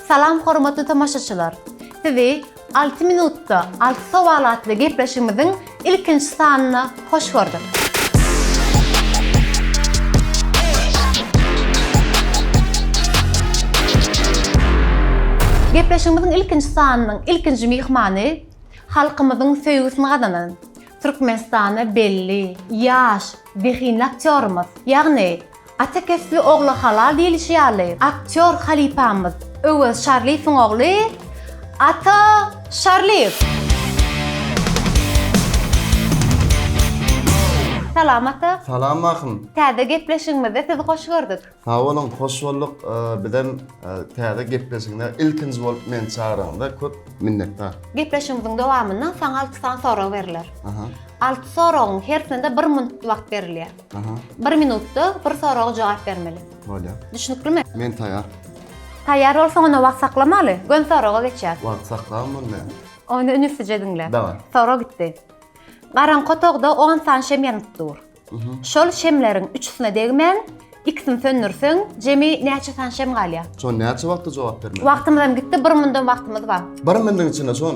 Salam hormatly tomaşaçylar! Sizi Alty minutda alty sowal atly gepleşigimiziň ilkinji sanyna hoş gördük! Gepleşigimiziň ilkinji sanynyň ilkinji myhmany halkymyzyň söýgüsini gazanan, Türkmenistana belli, ýaş, zehinli aktýorymyz, ýagny Ata kesbi ogla halal diýlişi ýaly, aktýor halypamyz Öwez Şarlyýewiň ogly Ata Şarlyýew. Salam Ata. Salam Mahym. Täze gepleşigimizde sizi hoş gördük. Sag boluň, hoş bolduk. Bizem täze gepleşigine ilkinji bolup meni çagranyňyza köp minnetdar. Gepleşigimiziň dowamynda saňa alty sany sorag beriler. Alty soragyň hersinde bir minut wagt berilýär. Bir minutda bir soraga jogap bermeli. Bolýar. Düşnüklimi? Men taýýar. Taýýar bolsaň onda wagt saklamaly. Gön soraga geçýäs. Wagt saklam onda. Onda ünslice diňle. Daway. Sorag gitdi. Garaňky otagda on sany şem ýanyp dur. Şol şemleriň üçüsine degmän, ikisini söndürseň, jemi näçe sany şem galýar? Şon näçe wagtda jogap bermeli? Wagtymyzam gitdi, bir mundan wagtymyz bar. Bir mundan içinde şon.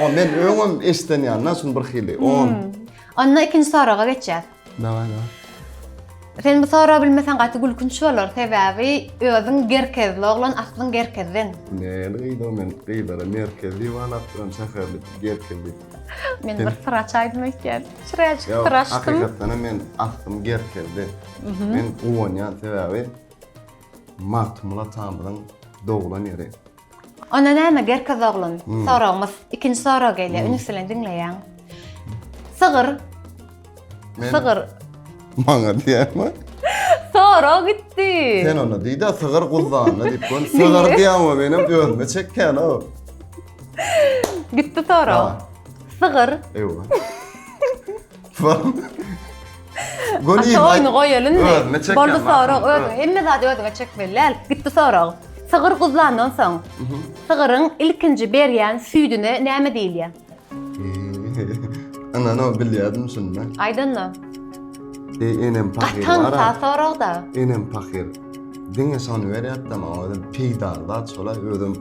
O men öňem eşden ýandan şun bir hili. On. Hmm. Onda ikinci soraga geçýär. Daway daway. Sen bu soragy bilmesen gaty gülkünç bolar. Sebäbi özüň gerkezli oglan aslyň gerkezden. Ne gyýda men gyýlara merkez diýip alap duran şäherli gerkez diýip. Men bir syr açaýdym öýtýän. Çyraýjyk syr açdym. Hakykatdan hem men aslym gerkezde. Mhm. Men guwanýan sebäbi Magtymguly atamyzyň doglan ýeri. Onda näme Gerkez oglum? Soragymyz, ikinji sorag gelýär. Üns bilen diňleýäň. Sygyr. Sygyr. Maňa diýämi? Sora gitdi. Sen onda diýdi, sygyr guzdanly diýip gön. Sygyr diýäňo menem özüme çekýän o. Gitdi sora. Sygyr. Ewa. Goni. Şu oyunu goýalyn mi? Özüne çekýän. Boldy sorag özüňe. Hemme zady özüňe çekmeli däl. Gitdi sorag. Sygyr guzlandan soň, sygyryň ilkinji berýän süýdüne näme diýilýär? Ana, no bilýärdim şunda. Aýdanda. Ey, enem pahyr. Gatam ta soragda. Enem pahyr. Diňe şony berýär da maňa özüm peýdaly zat şola özüm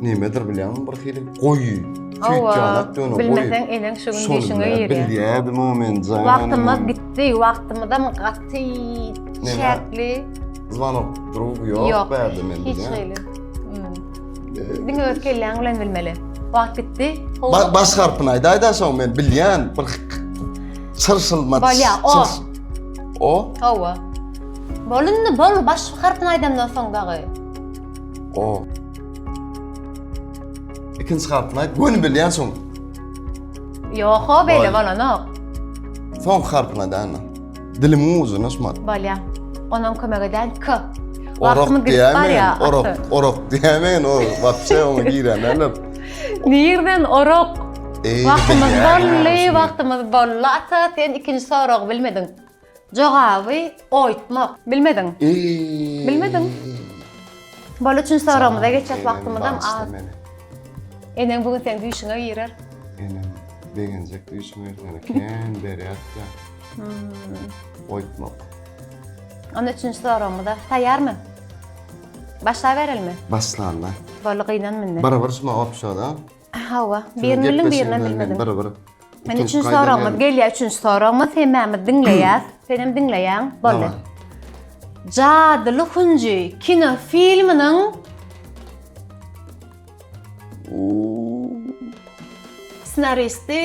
nimedir bilýän bir hili goýy. Tüýtýanak döne goýy. Bilmeseň eleň şu gün düşüňe girýär. Bilýärdim o men jaýany. Wagtymyz gitdi, wagtymyzam gaty çäkli. Zwanok drugy ýok bärde men bilýän. Hiç hili. Hmm. Diňe öz kelläň bilen bilmeli. Wagt gitdi. Baş harpyny aýdaýda soň men bilýän bir çyrşylmaç. Bolýa, o. O? Hawa. Bol indi bol baş harpyny aýdamdan soň dagy. O. Ikinji harpyny aýt göni bilýän soň. Ýok ho beýle bolanok. Soň harpyny aýdana. Dilimiň ucuna şumat. Bolýa. Onam kömek edän k. Orak diýämen, orak, orak diýämen, o wagtça oňa girämäler. Nirden orak? Wagtymyz bolly, wagtymyz bolly ata, sen ikinji soragy bilmediň. Jogaby oýtmak. Bilmediň. Bilmediň. Bol üçin soragymyza geçýäs wagtymyzam az. Eneň bu gün sen düýşüňe girer. Enem begenjek düýşüme ýöne kän berýärdi. Hmm. Oýtmak. Onda üçünji soragymyza taýýarmy? Başlaberilmi? Başlanda. Bolly gynanmynda. Barabar şuma opşoda. Hawa, birini bildim, birini bilmedim. Bir bir. Men üçünji soragymyz gelýär, üçünji soragymyz hemmämiz diňleýäs. Sen hem diňleýäň. Boldy. Jadyly hunji kino filminiň ssenaristi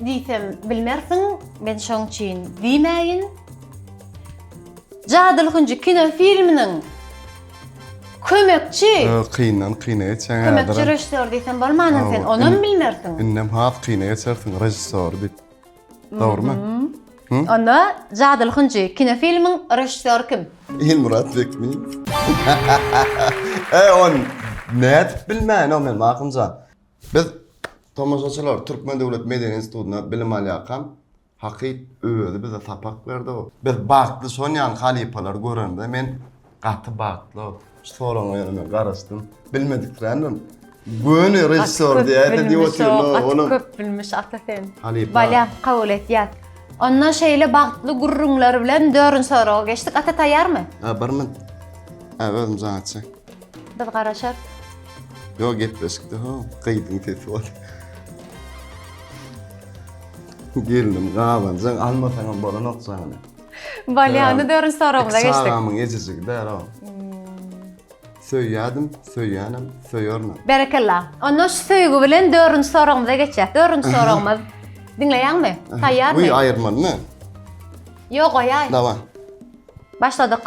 diýsem bilmersiň, men şoň üçin diýmäýin. Jadyly hunji kino filminiň Kömekçi. Öh, kyndan kyna geçýäň häzirem. Kömekçi režissýor diýsem bolmanam sen onam bilmersiň. Indem has kyna geçersiň režissýor diýip. Dogrymy? Onda Jadyly hünji kinofilmiň režissýory kim? Ilmyrat Bekmyrow. E, ony nädip bilmäýin-ow men, Magtymjan? Biz tomaşaçylar Türkmen döwlet medeni institutynda bilim alýarkam, Hakyt özi bize sapak berdi. Biz bagtly şonýan halypalary göremde men gaty bagtly. Şu soragyňa ýöne men garaşdym. Bilmediksirändim. Göni režissýor diýäýse diýip otyryn. Gaty köp bilmiş ata sen. Halypa. Bolýa, kabul etýäs. Onda şeýle bagtly gürrüňler bilen dörünji soraga geçdik. Ata taýýarmy? Hä, bir min. Hä, özüm jaň etjek. Biz garaşarys. Ýok, gepleşikde-hä, gyzyň sesi bar. Gelnim gabanjaň almasaňam bolanok jany. Bolýany dörünç soragymyza geçdik. Çagamyň ejejigi däl o. Söýýädim, söýýänem, söýernem. Berekella. Onda şu söýgi bilen dörünç soragymyza geçýäs. Dörünç soragymyz. Diňleýäňmi? Taýýarmy? Uý aýyrmalymy? Ýok goýaý. Dawa. Başladyk.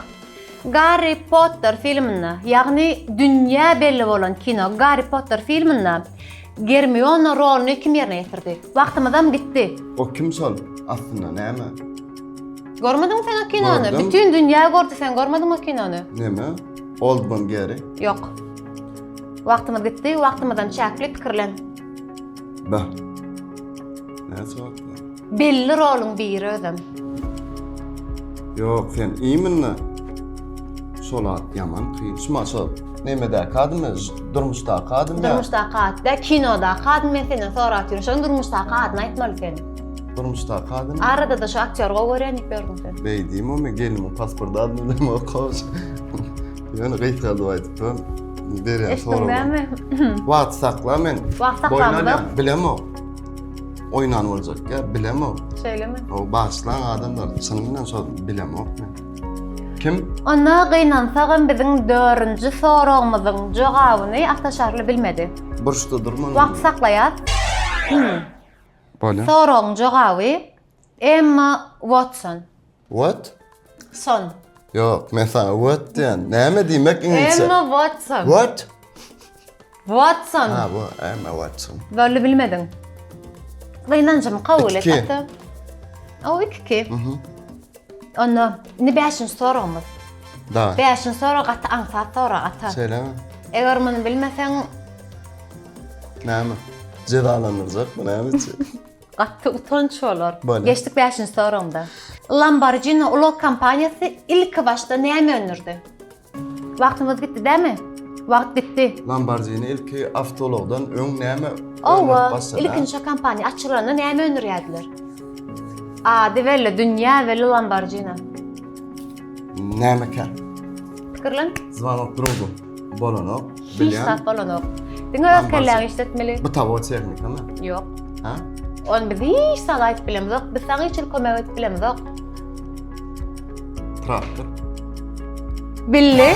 Garri Potter filminde, ýagny dünýä belli bolan kino Garri Potter filminde Germiona roluny kim ýerine ýetirdi? Wagtymyzam gitdi. O kim şol? Aslynda näme? Görmediňmi sen o kinony? Gördüm. Bütin dünýä gördi sen görmediňmi o kinony? Näme? Oldman Gary? Ýok. Wagtymyz gitdi, wagtymyzam çäkli pikirlen. Bah. Näçe wagt? Belli roluň biri özem. Ýok sen iminle. Şol at ýaman kyn. Şuma şol. Nemedäki adymy? Durmuşdaky adymy? Durmuşdaky at dä, kinodaky adymy men senden sorap ýörün. Şonuň durmuşdaky adyny aýtmaly sen. Durmuşdaky adymy? Arada-da şu aktýory gowy görýän diýip ýörüň sen. Beýdimi men gelniň pasport adyny bilemok okaş. Ýöne gysgadyp aýdypdyryn. Berýän soragym. Eşitdiňmi? Wagty sakla men. Wagty saklamda. Bilemok. Oynan olacak ya bilemok. Şöyle mi? O bağışlan adamlar çynynyň şol bilemok men. Kim? Onda gynansagam biziň dördünji soragymyzyň jogabyny Ataşarly bilmedi. Burçda durman. Wagt saklaýas. Hmm. Bolýar. Soragyň jogaby Emma Watson. What? Son. Ýok, men saňa what diýen. Näme diýmek iňlisçe? Emma Watson. What? Watson. Ha, bu Emma Watson. Bölli bilmediň. Gynanjymy kabul et. Iki. O iki ki. Mhm. Onda ne beşinci soragymyz. Da. Beşinci sorag gaty aňsat sorag ata. Söyle. Eger muny bilmeseň. Näme? Cezalandyracak mı näme için? Gaty utanç bolar. Geçdik bäşinji soragymda. Lamborghini ulag kompaniýasy ilki başda näme öndürdi? Wagtymyz gitdi dämi? Wagt gitdi. Lamborghini ilki awtoulagdan öň näme öndürip başlady? Owa, ilkinji kompaniýa açylanda näme öndürýärdiler? Ady belli, dünýä belli Lamborghini. Nämekä? Pikirlen. Zwanok drugu. bolanok. Hiç zat bolanok. Diňe öz kelläňi işletmeli. Bu tawo tehnika mı? Yok. Ha? On biz hiç zat ayıp bilemiz yok. Biz sana hiç kömek et bilemiz yok. Traktör. Billi.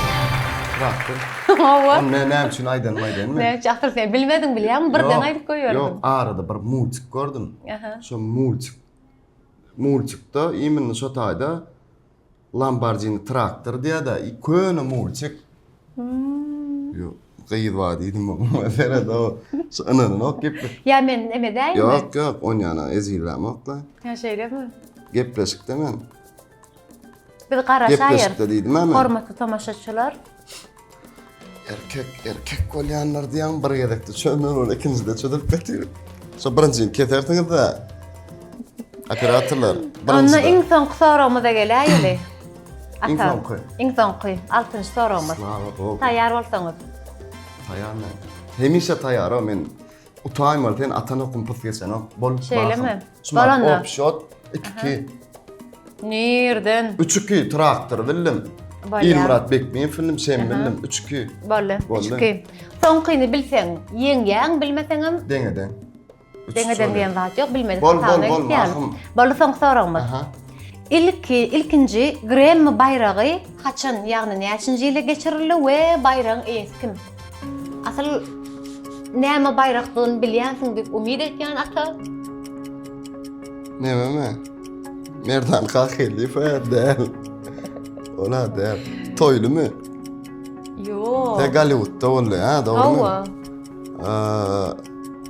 Traktör. Ova. On ne ne için aydan mı aydan mı? Ne için akıl sen bilmedin bilýän mi? Birden ayıp koyuyorum. Yok arada bir multik gördüm. Aha. Şu multik. Multikte imin şu tayda Lambardini traktor diýada, köne mulçik. Ýok, gyz bar diýdim oňa. Serede o, şu ynananok gepleşik. Ýa men emedäýinmi? Ýok, ýok, on ýana ezillämok-da. Hä, şeýlemi? Gepleşikde men. Biz garaşaýyrys. Gepleşikde diýdim-ä men. Hormatly tomaşaçylar, Erkek, erkek bolýanlar diýen bir gezekde çömür ol ikinjide çözülip getir. Şu birinjini kesersiňiz de. Operatorlar Onda birinjide. iň soňky soragymyza geläýeli. Iň Ata, soňky. Iň soňky, altynjy soragymyz. Slava Bogu. Taýýar bolsaňyz. Taýýarmy? Hemişe taýýar o men. Utaýmaly sen atan okum pys geçenok. Bol Şeýlemi? bahym. Şumat Baranda. opşot 2-2. Nirden? 3-2 traktor bildim. Bolýa. Ilmyrat Bekmiýew film sen Aha. bildim 3-2. Boldy. Boldy. Üçki. Soňkyny bilseň, ýeňýäň, bilmeseň hem Deňeden. Üç deňeden şöyle. diýen zat ýok, bilmedik Bol bol hasabyna bol gitýär. mahym. Boldy soňky soragymyz. Aha. Ilki, ilkinji Grammy baýragy haçan, ýagny näçinji ýylda geçirildi we baýragyň eýesi kim? Asyl näme baýrakdygyny bilýänsiň diýip umyt etýän ata. Nämeme? Merdan Kahyliýew däl. Ola däl. Toýlumy? Ýok. Te Golliwudda boldy, ha, dogrumy? Hawa. Eee,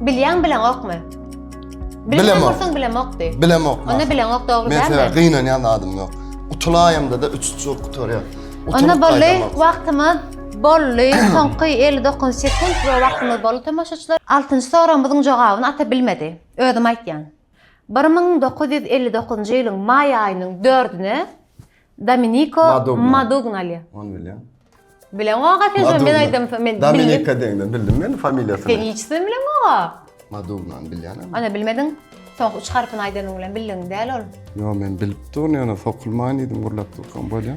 Bilýän bileňokmy? Bilemok. Bilemok. Bilemok. Bilemok. Onda bilemok dogry däl. Mesela gynanýan adım yok. Utulaýamda da üç çur gutarýar. Onda bolly wagtymyz bolly. Soňky 59 sekund we wagtymyz bolly tomaşaçylar. 6-njy soragymyzyň jogabyny ata bilmedi. Özüm aýtýan. 1959-njy ýylyň maý aýynyň 4-üne Dominiko Madugna. Madugnali. Onu bilýän. Bileň aga sen şo men aýdym men bildim. Dominika deňden bildim men familiýasyny. Sen hiç sen bileň aga. Madugna bilýän. Ana bilmediň. Soňky üç harpyny aýdanyň bilen bildiň däl ol. Ýo men bilip durun ýöne sokulmaýyn diýdim gurlap durkam bolýa.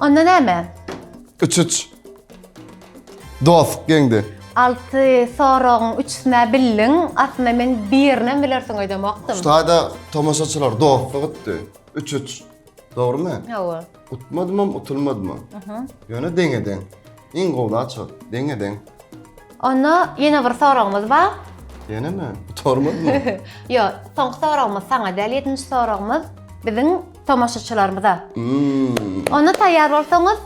Onda näme? Üç üç. Dost geňdi. Alty soragyň üçüsine bildiň. Aslynda men birine bilersiň öýdemokdym. Şaýda tomaşaçylar dostluk etdi. Üç üç. Dogrymy? Hawa. Utmadymam, utulmadymam. Aha. Ýöne deňe-deň. Iň gowla çyk, deňe-deň. Onda ýene bir soragymyz bar. Ýenemi? Gutarmadymy? Ýok, soňky soragymyz saňa däl, ýedinji soragymyz biziň tomaşaçylarymyza. Hmm. Onda taýýar bolsaňyz,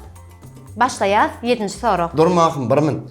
başlaýas ýedinji sorag. Durmahym bir minut.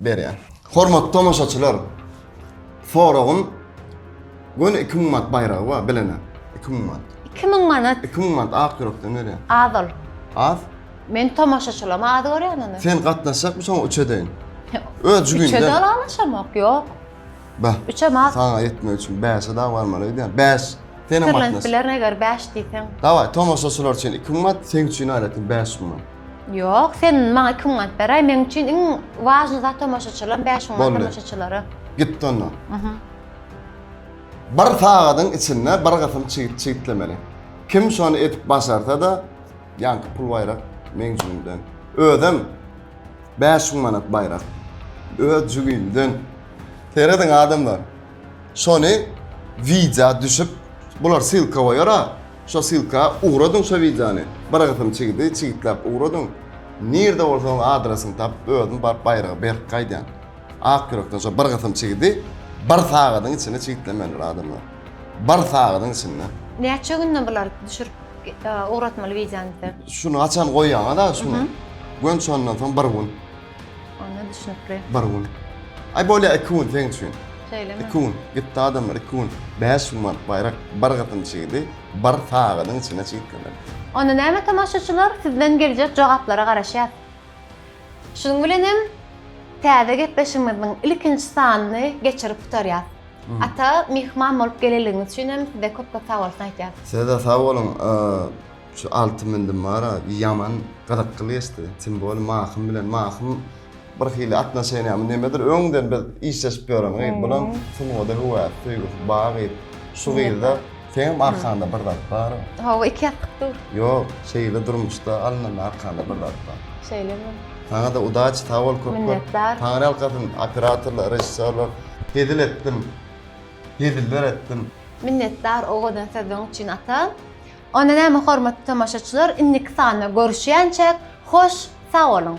berýär. Hormatly tomaşaçylar, soragym göni iki müň manat baýragy bar bilene, iki müň manat. Iki müň manat. Iki müň manat ak ýürekden berýär. Az ol. Az? Men tomaşaçylama az görýän ony. Sen gatnaşjakmy şoňa üç edeýin? Öz jübiňden. Üçe dalalaşamok, ýok. Bah. Üçem az. Saňa ýetmek üçin bäşe dagy barmaly öýdýän. Bäş. Senem gatnaş. Pikirlenip bilerin eger bäş diýseň. Dawaý, tomaşaçylar üçin iki müň manat, seň üçin aýratyn bäş müň manat. Ýok, sen maňa iki müň manat beräý, meň üçin iň wažnyý zat tomaşaçylar, bäş müň manat Boldy. tomaşaçylara. Gitdi onda. Aha. Bir sagadyň içinde bir gysym çigit çigitlemeli. Kim şony edip başarsa-da, ýaňky pul baýrak meň jübimden. Özem bäş müň manat baýrak öz jübimden. Serediň adamlar, şony wideo düşüp, bular ssylka goýar-a, Şo silka ugradyň şo wideony bir gysym çigidi çigitläp ugradyň nirde bolsaň adresini tapyp özüm baryp baýragy berk gaýdýan ak ýürekden şo bir gysym çigidi bir sagadyň içinde çigitlemelidir adamlar bir sagadyň içinde. Näçe günde bular düşürip ugratmaly wideony size. Şuny haçan goýýaňyz a şuny gönç ondan soň bir gün. Onda düşnükli. Bir gün. Aý bolýa iki gün seň üçin. Şeýlemi? Iki gün. Gitdi adamlar iki gün. Bäş gün manat baýrak bir gyzyň çydy, bir sagadyň içinde çytdylar. Onda näme tomaşaçylar sizden geljek jogaplara garaşýas. Şunuň bilen hem täze gepleşigimiziň ilkinji sanyny geçirip gutarýas. Ata myhman bolup geleligiňiz üçin hem size köp köp sagbolsun aýtýas. Size-de sag boluň. Şu alty mündüm bara ýaman gyzykly geçdi. Tim boli Mahym bilen Mahym birhili atnoşeniýamy nemedir öňden biz işleşip ýören gyz bulam sungada höwäsi söýgüsi ba gyz. Şu gyzda seňem arkaňda bir zat bar. Hawa iki ýatlyk dur. Ýok şeýle durmuşda alnynda arkaňda bir zat bar. Şeýlemi. Saňada udaçi sag bol köp köp. Taňryýalkasyn operatorlar režissýorlar hezil etdim heziller etdim. Minnetdar o gözel sözleň üçin ata. Onda näme hormatly tomaşaçylar indiki sanda görüşýänçäk hoş sag boluň.